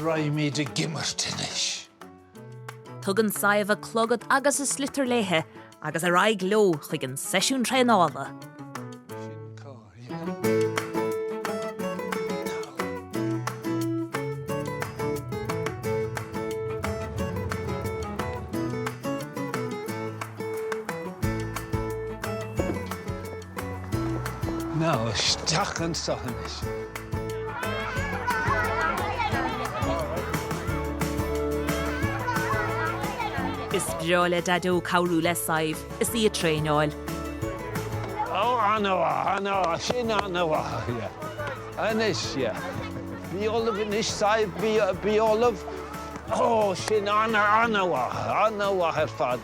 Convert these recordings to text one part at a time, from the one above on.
Raghaimíd ag imirt anois. Tugann Sadhbh a clogad agus a sliotar léithi agus ar aghaidh leo chuig an seisiún traenála. Ná isteach annso anois. Is breá le Daideo cabhrú le Sadhbh is í a traenáil. Ó, an-mhaith, an-mhaith, sin an-mhaith, yeah. Anois, yeah. Bí ullamh anois, Sadhbh, bí, bí ullamh. Ó, sin an-mhaith, an-mhaith ar fad.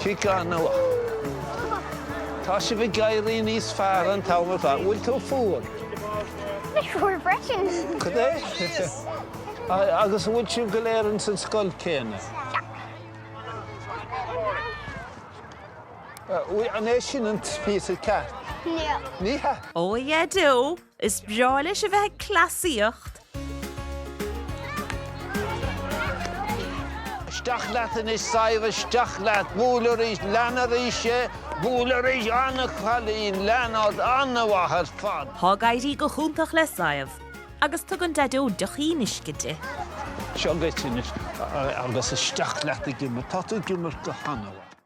Ciceáil na luch. Tá sibh ag éirí níos fearr an t-am ar fad. Bhfuil tú fuar? Fuar freisin. Cad é? Agus an bhfuil sibh go léir ins an scoil céanna? An é sin an píosa ceart? Ní hea. Ní hea. Ó a Dhaideo, Is breá leis a bheith ag cleasaíocht. Isteach leat anois Sadhbh, isteach leat. Buail arís, lean arís é, buail arís. An-chailín, lean ort, an-mhaith ar fad. Tá ag éirí go hiontach le Sadhbh agus tugann Daideo deochín uisce di. Seo dhuit anois agus isteach leat ag imirt. Tá tú ag imirt go han-mhaith.